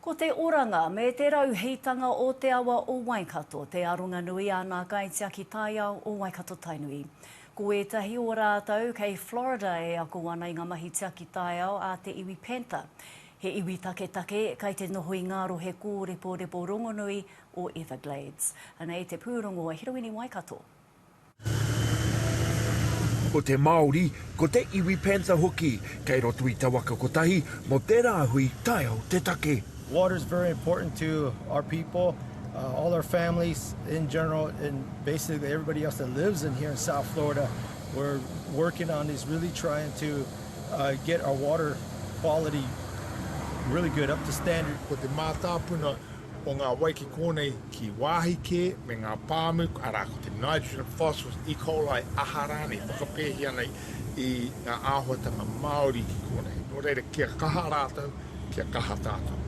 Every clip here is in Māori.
Ko te oranga me te rauhītanga o te awa o Waikato te aronga nui a nā kaitiaki taiao o Waikato-Tainui. Ko ētahi o rātou kei Florida e ako ana i ngā mahi tiaki taiao a te iwi Panther, he iwi taketake kei te noho i ngā rohe kōreporepo rongonui o Everglades. Anei te pūrongo a Hiroini Waikato. Ko te Māori, ko te iwi panther hoki, kei roto i te waka kotahi, mō tērā hui taiao te take. Water is very important to our people, all our families in general and basically everybody else that lives in here in South Florida, we're working on this really trying to get our water quality really good up to standard. Ko te mātāpuna o ngā wai ki kōnei ki wāhi kē me ngā pāmu, arā, ko te nitrogen, phosphorus, E. coli, aha rānei, whakapēhia nei i ngā āhuatanga māori ki kōnei. Nō reira, kia kaha rātou, kia kaha tātou.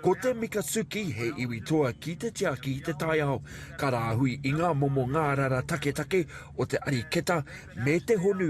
Ko te Mikatsuki he iwi toa ki te tiaki i te taiao, ka rāhui i ngā momo ngārara taketake o te ariketa me te honu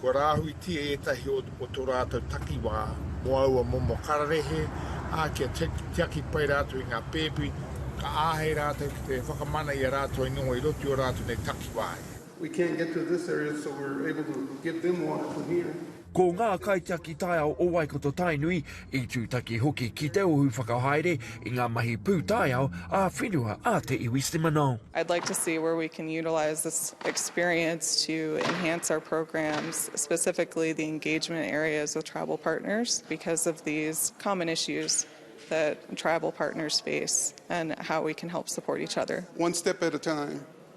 Kua rāhuitia ētahi o tō rātou takiwā mō aua momo kararehe, ā, kia tiaki pai rātou i ngā pēpi, ka āhei rātou ki te whakamana i a rātou i noho i roto i ō rātou nei takiwā i. We can't get to this area so we're able to give them water from here. Ko ngā kaitiaki taiao o Waikato-Tainui i tūtaki hoki ki te ohu whakahaere i ngā mahi pūtaiao ā-whenua a te iwi Seminole. I'd like to see where we can utilise this experience to enhance our programs, specifically the engagement areas with tribal partners because of these common issues that tribal partners face and how we can help support each other. One step at a time.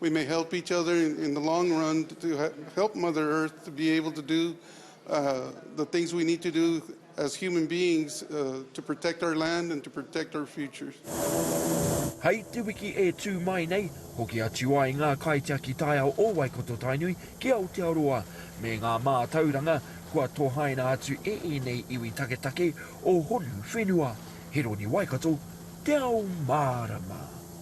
We may help each other in the long run to help Mother Earth to be able to do the things we need to do as human beings to protect our land and to protect our futures. Hei te wiki e tū mai nei, hoki atu ai ngā kaitiaki taiao o Waikato Tainui ki Aotearoa, me ngā mātauranga kua tohaina atu e ēnei iwi taketake o Honu whenua. Heroni Waikato, Te Ao Mārama.